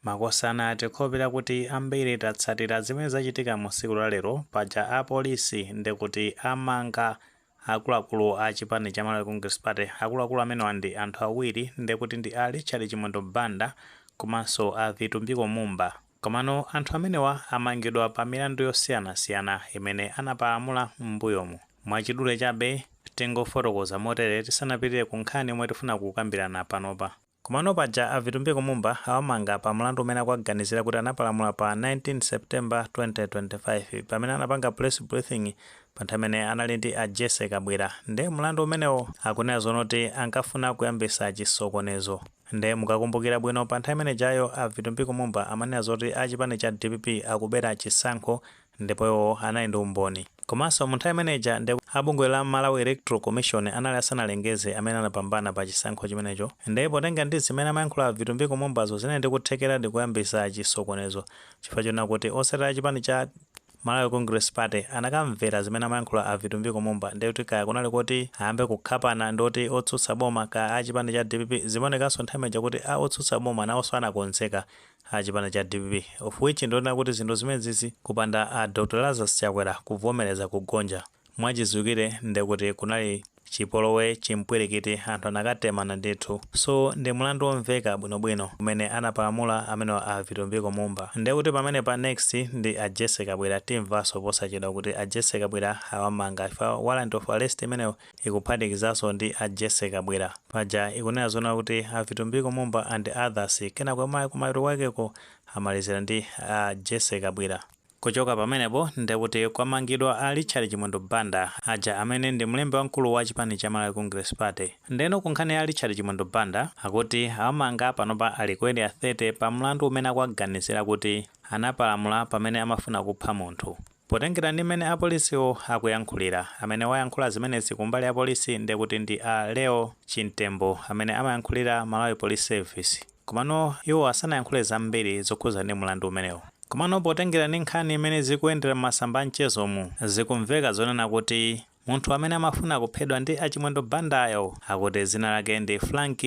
Makosana tikhulupirira kuti ambiri tatsatira zimene zachitika mu siku la lero paja apolisi ndekuti amanga akuluakulu a chipani cha Malawi Congress Party akuluakulu amenewa ndi anthu awiri ndekuti ndi a Richard Chimwendo Banda komanso a Vitumbiko Mumba komano anthu amenewa amangidwa pa milandu yosiyanasiyana imene anapalamula m'mbuyomu mwachidule chabe tingofotokoza motere tisanapitire ku nkhani yomwe tifuna kukambirana panopa. Komano paja a Vitumbiko Mumba awamanga pa mlandu umene akuwaganizira kuti anapalamula pa 19 September 2025 pamene anapanga press briefing pa nthawi imene anali ndi a Jessie Kabwira nde mlandu umenewo akunena zonena kuti ankafuna kuyambisa chisokonezo nde mukakumbukira bwino pa nthawi imene ijayo a Vitumbiko Mumba amanena zoti a chipani cha dpp akubera chisankho ndipo iwo anali ndi umboni komanso mu nthawi imene ija nde a bungwe la Malawi Electoral Commission anali asanalengeze amene anapambana pa chisankho chimenecho nde potenga ndi zimene amayankhula a Vitumbiko Mumbazo zinali ndi kuthekeradi kuyambisa chisokonezo chifukwa chonena kuti otsatira a chipani cha Malawi Congress Party anakamvera zimene amayankhula a Vitumbiko Mumba nde kuti kaya kunali koti ayambe kukhapana ndi oti otsutsa boma kaya a chipani cha dpp zimaonekanso nthawi imene ija kuti a otsutsa boma nawonso anakonzeka a chipani cha dpp of which ndi zoona kuti zinthu zimenezizi kupanda a Dr Lazarus Chakwera kuvomereza kugonja mwachiziwikire ndekuti kunali chipolowe, chimpwirikiti, anthu anakatemana ndithu so ndi mlandu omveka bwinobwino umene anapalamula amenewa a Vitumbiko Mumba ndekuti pamenepa next ndi a Jessie Kabwira timvanso posachedwa kuti a Jessie Kabwira awamanga chifukwa warrant of arrest imeneyo ikuphatikizaso ndi a Jessy Kabwila. Paja ikunena zonena kuti a Vitumbiko Mumba and others kenako kumapeto kwakeko amalizila ndi a Jessy Kabwila. Kuchoka pamenepo ndekuti kwamangidwa a Richard Chimwendo Banda aja amene ndi mlembi wamkulu wa chipani cha Malawi Congress Party. Ndeno ku nkhani ya Richard Chimwendo Banda akuti awamanga panopa ali ku area 30 pa mlandu umene akuwaganizila kuti anapalamula pamene amafuna kupha munthu. Potengera ndi mmene apolisiwo akuyankhulira, amene wayankhula zimenezi kumbali ya polisi ndekuti ndi a Leo Chimtembo amene amayankhulira Malawi Police Service. Komano iwowa sanayankhule zambiri zokhudza ndi mlandu umenewu. Komano potengera ndi nkhani mmene zikuyendera m'masamba a mchezomu, zikumveka zonena kuti Munthu amene amafuna kuphedwa ndi a Chimwendo Bandayo akuti dzina lake ndi Frank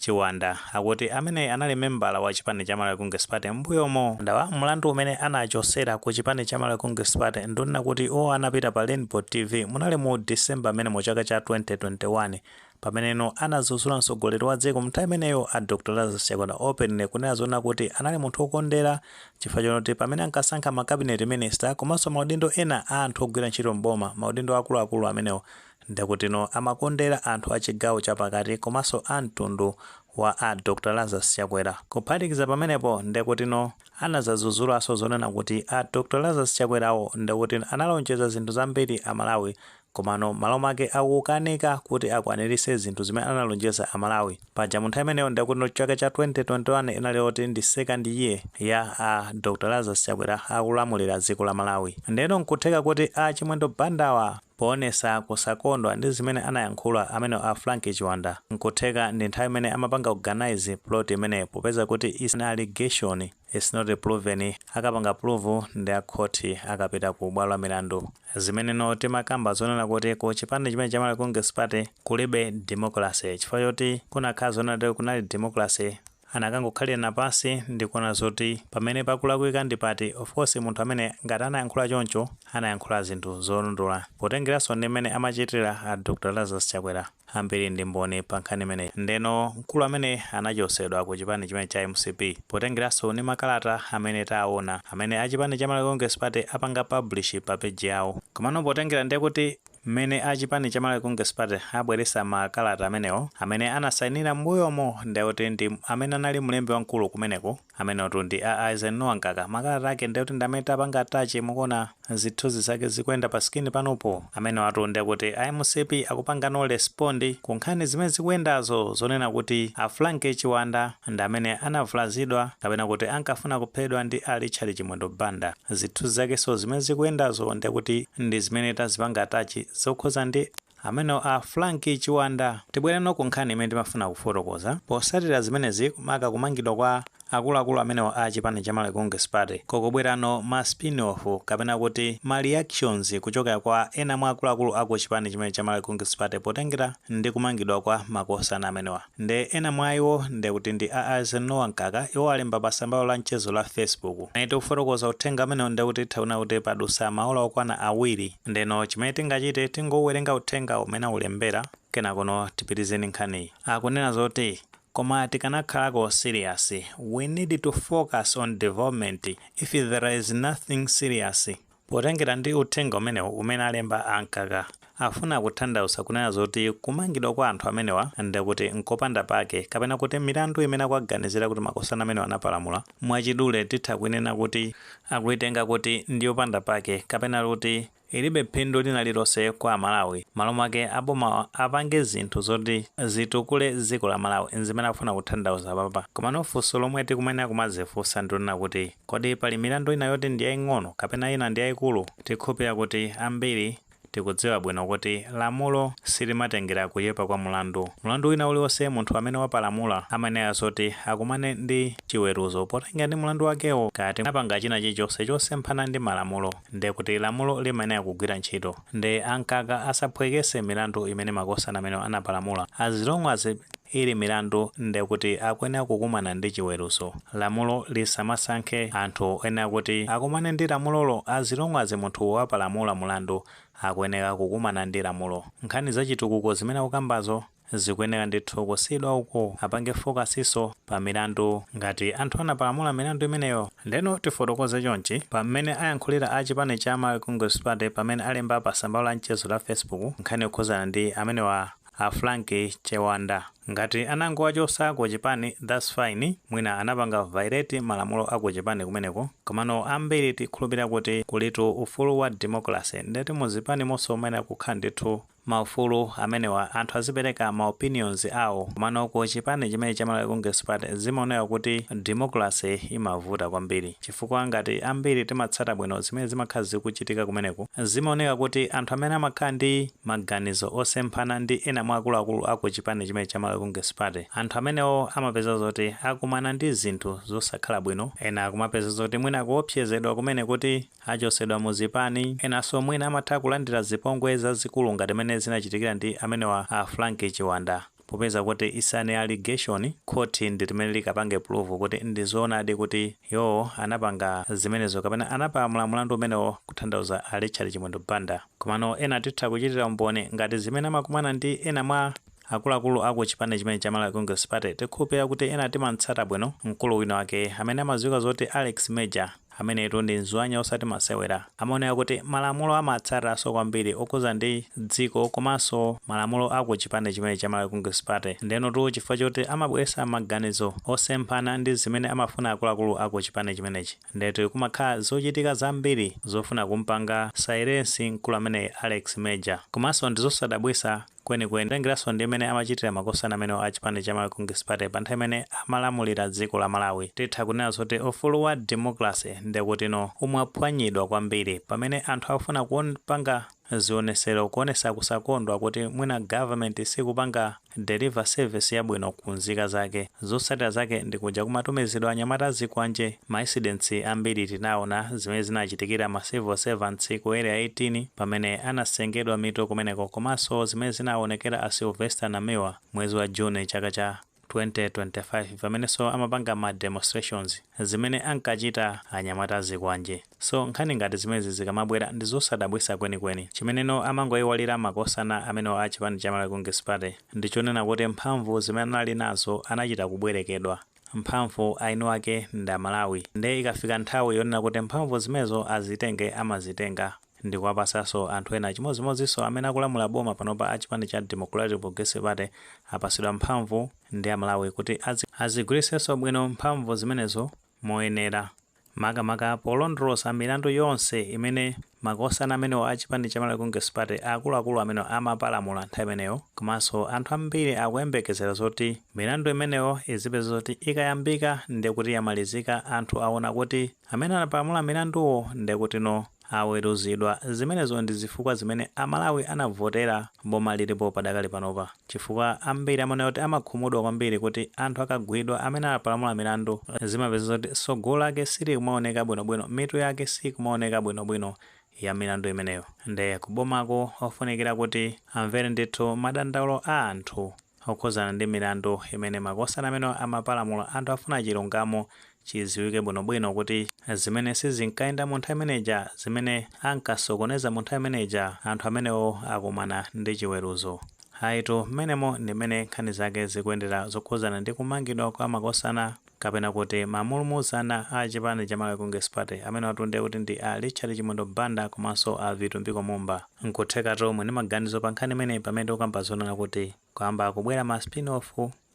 Chiwanda akuti ameneyi anali membala wa chipani cha Malawi Congress Party m'mbuyomo. Ndawa mulandu umene anachosera ku chipani cha Malawi Congress Party ndi wonena kuti iwowa anapita pa Rainbow TV munali mu December mmenemo chaka cha 2021 Pameneno anadzudzula mtsogoleri wa dziko mnthawi imeneyo a Dr Lazarus Chakwera openly kunena zonena kuti anali munthu okondera chifukwa chonoti pamene ankasankha ma cabinet minister komanso maudindo ena a anthu ogwira ntchito m'boma maudindo akuluakulu amenewo ndekutino amakondera anthu a chigawo cha pakati komanso a mtundu wa a Dr Lazarus Chakwera. Kuphatikiza pamenepo ndekutino anadzadzudzulanso zonena kuti a Dr Lazarus Chakwerawo ndekutino analonjeza zinthu zambiri a Malawi Komano mmalo make akukanika kuti akwanilise zinthu zimene analonjeza a Malawi. Paja mu nthawi imeneyo ndekutino chaka cha 2021 inali yoti ndi second year ya a Dr Lazarus Chakwera akulamulira dziko la Malawi. Ndeno nkutheka kuti a Chimwendo Bandawa poonesa kusakondwa ndi zimene anayankhula amenewa a Frank Chiwanda nkutheka ndi nthawi imene amapanga organise plot imeneyo popeza kuti is an allegation. Its not proven akapanga prove ndi a court akapita ku bwalo la milandu. Zimeneno timakamba zonena kuti ku chipani chimene cha Malawi Congress Party kulibe democracy chifukwa choti kunakhala zonena kuti kunali democracy anakangokhalirana pansi ndikuona zoti pamene pakulakwika ndi pati of course munthu amene ngati anayankhula choncho anayankhula zinthu zolondola potengeranso ndi mmene amachitira a Dr Lazarus Chakwera. ambiri ndi mboni pa nkhani imeneyi. Ndeno mkulu amene anachosedwa ku chipani chimene cha mcp potengeraso ni makalata amene taona amene achipani cha Malawi Congress Party apanga publish pa page yawo. Komano potengera ndekuti mmene a chipani cha Malawi Congress Party abweresa makalata amenewo, amene anasainira mmbuyomo ndekuti ndi amene anali mlembi wamkulu kumeneko, Amenewatu ndi a Eisenhower Mkaka. Makalata ake ndekuti ndi amene tapanga attach mukuona zithunzi zake zikuyenda pa screen panopo. Amenewatu ndekuti a mcp akupangano respond ku nkhani zimene zikuyendazo zonena kuti a Frank Chiwanda ndi amene anavulazidwa kapena kuti ankafuna kuphedwa ndi a Richard Chimwendo Banda. Zithunzi zakenso zimene zikuyendazo ndekuti ndi zimene tazipanga attach zokhuza ndi. Amenewa a Frank Chiwanda. Tibwereno ku nkhani imene timafuna kufotokoza. Posatira zimenezi maka kumangidwa kwa akuluakulu amenewa a chipani cha Malawi Congress Party, kukubwerano ma spin off kapena kuti ma reactions kuchokera kwa ena mwa akuluakulu a ku chipani chimene cha Malawi Congress Party potengera ndi kumangidwa kwa makosana amenewa. Nde ena mwa iwo nde kuti ndi a Eisenhower Mkaka, iwo alemba pa tsambalo la mchezo la Facebook. Pamene tikufotokoza uthenga umenewu nde kuti titha kuona kuti padusa maola okwana awiri. Ndeno chimene tingachite tingouwerenga uthengawu mmene aulembera kenakono tipitirize ndi nkhaniyi. Akunena zoti Koma tikanakhalako serious, we need to focus on development, if there is nothing serious, Potengera ndi uthenga umenewu umene alemba a Mkaka afuna kuthandauza kunena zoti kumangidwa kwa anthu amenewa ndekuti nkopanda pake kapena kuti milandu imene akuwaganizira kuti makosana amenewa anapalamula mwachidule titha kuinena kuti akuitenga kuti ndiyopanda pake kapena kuti ilibe phindu lina lililonse kwa Amalawi malo mwake abomawa apange zinthu zoti zitukule dziko la Malawi nzimene akufuna kuthandauza apapa komano funso lomwe tikumayenera kumadzifunsa ndilonena kuti Kodi pali milandu ina yoti ndi yaing'ono kapena ina ndi yaikulu? Tikhulupirira kuti ambiri tikudziwa bwino kuti lamulo silimatengera kuchepa kwa mulandu. Mulandu wina uliwonse munthu amene wapalamula amayenera zoti akumane ndi chiweruzo potengera ndi mulandu wakewo. Ngati wapanga china chilichonse chosemphana ndi malamulo, nde kuti lamulo limayenera kugwira ntchito. Nde a Mkaka asaphwekese milandu imene makosana amenewa anapalamula. As long as ili milandu nde kuti akuyenera kukumana ndi chiweruzo. Lamulo lisamasankhe anthu oyenera kuti akumane ndi lamulolo as long as munthu wapalamula mulandu akuyenera kukumana ndi lamulo. Nkhani za chitukuko zimene akukambazo zikuyenera ndithu kusiyidwa uku apange focusso pa milandu ngati anthu anapalamula milandu imeneyo ndeno tifotokoze chonchi pa mmene ayankhulira a chipani cha Malawi Congress Party pamene alemba pa tsamba lawo la mchezo la Facebook nkhani yokhuzana ndi amenewa a Frank Chiwanda ngati anangowachosa ku chipani that's fine mwina anapanga violate malamulo a ku chipani kumeneko komano ambiri tikhulupilira kuti kulitu ufulu wa democracy ndeti mu zipanimonso mumayenera kukhala ndithu ma ufulu amenewa anthu azipereka ma opinions awo komano ku chipani chimene cha Malawi Congress Party zimaoneka kuti democracy imavuta kwambiri chifukwa ngati ambiri timatsata bwino zimene zimakhala zikuchitika kumeneku zimaoneka kuti anthu amene amakhala ndi maganizo osemphana ndi ena mwa akuluakulu a ku chipani chimene cha Malawi Congress Party anthu amenewo amapeza zoti akumana ndi zinthu zosakhala bwino ena akumapeza zoti mwina akuopsezedwa kumene kuti Achosedwa mu zipani. Enanso mwina amatha kulandira zipongwe zazikulu ngati mene zinachitikira ndi amenewa a Frank Chiwanda. Popeza kuti it's an allegation, khoti ndi limene likapange prove kuti ndi zoonadi kuti iwowo anapanga zimenezo kapena anapalamula mulandu umenewo kuthandauza a Richard Chimwendo Banda. Komano ena titha kuchitira umboni ngati zimene amakumana ndi ena mwa. Akuluakulu a ku chipani chimene cha Malawi Congress Party tikhulupilira kuti ena timamtsata bwino mkulu wina wake amene amadziwika zoti Alex Major, ameneyitu ndi mzwanya osati masewera, amaoneka kuti malamulo amatsataso kwambiri okhudza ndi dziko komanso malamulo a ku chipani chimene cha Malawi Congress Party ndenotu chifukwa choti amabweretsa maganizo osemphana ndi zimene amafuna akuluakulu a ku chipani chimenechi ndeti kumakhala zochitika zambiri zofuna kumpanga silence mkulu ameneyi Alex Major komanso ndizosadabwitsa Kwenikweni, kutengeranso ndi mmene amachitira makosana amenewa a chipani cha Malawi Congress Party pa nthawi imene amalamulira dziko la Malawi, titha kunena zoti ufulu wa democracy ndekutino umaphwanyidwa kwambiri pamene anthu akufuna kupanga zionesero kuonesa kusakondwa kuti mwina government sikupanga deliver service yabwino ku nzika zake. Zotsatira zake ndi kuja kumatumizidwa anyamata azikwanje, ma incidents ambiri tinaona zimene zinachitikira ma civil servants ku Area 18 pamene anasengedwa mitu kumeneko komanso zimene zinaonekera a Sylvester Namiwa mwezi wa June chaka cha 2025 pamenenso amapanga ma demonstrations, zimene ankachita anyamata azikwanje. So nkhani ngati zimezi zikamabwera ndizosadabwisa kweni kweni. Chimeneno amangoiwalira makosana amenewa a chipani cha Malawi Congress Party ndichonena kuti mphamvu zimene anali nazo anachita kubwerekedwa. Mphamvu eni wake ndi a Malawi. Nde ikafika nthawi yonena kuti mphamvu zimenezo azitenge amazitenga ndikuwapasaso anthu ena chimodzimodzinso amene akulamula boma panopa a chipani cha Democratic Progressive Party apasidwa mphamvu ndi a Malawi kuti azigwiriseso bwino mphamvu zimenezo moyenera, makamaka polondoloza milandu yonse imene makosana amenewa a chipani cha Malawi Congress Party akuluakulu amenewa amapalamula nthawi imeneyo, komanso anthu ambiri akuyembekezera zoti milandu imeneyo izipezeka zoti ikayambika ndekuti yamalizika anthu awona kuti amene anapalamula milanduwo ndekutino Aweruzidwa, zimenezo ndi zifukwa zimene a Malawi anavotera boma lilipo padakali panopa chifukwa ambiri amanena kuti amakhumudwa kwambiri kuti anthu akagwidwa amene anapalamula milandu zimapezeka kuti tsogolo lake silikumaoneka bwinobwino mitu yake siikumaoneka bwinobwino ya milandu imeneyo nde kubomako ofunikira kuti amvere ndithu madandaulo a anthu okhudzana ndi milandu imene makosana amenewa amapalamula anthu afuna chilungamo chidziwike bwinobwino kuti zimene sizinkayenda mu nthawi imene ija, zimene ankasokoneza mu nthawi imene ija, anthu amenewo akumana ndi chiweruzo. Ayitu, mmenemo ndi mmene nkhani zake zikuyendera zokhudzana ndi kumangidwa kwa makosana. kapena kuti ma mulumuzana a chipani cha Malawi Congress Party amenewatu ndiye kuti ndi a Richard Chimwendo Banda komanso a Vitumbiko Mumba. Nkuthekatu muli ndi maganizo pa nkhani imeneyi pamene tikukamba zonena kuti kwayamba kubwera ma spin off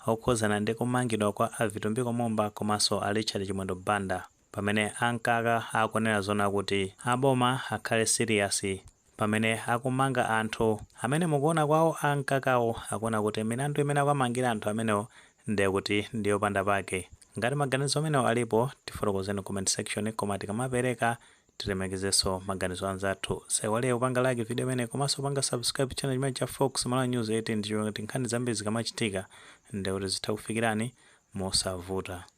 okhudzana ndi kumangidwa kwa a Vitumbiko Mumba komanso a Richard Chimwendo Banda pamene a Mkaka akunena zonena kuti a boma akhale serious pamene akumanga anthu amene mu kuona kwawo a Mkakawo akuona kuti milandu imene akuwamangira anthu amenewo ndiye kuti ndi yopanda pake. Ngati maganizo amenewo alipo, tifotokozeni ku comment section koma tikamapereka tilemekezenso maganizo a anzathu. Osaiwala kupanga like video imeneyi komanso kupanga subscribe channel chimenechi cha Fox Malawi News 18 ndi cholinga choti nkhani zambiri zikamachitika ndiye kuti zithe kukufikirani mosavuta.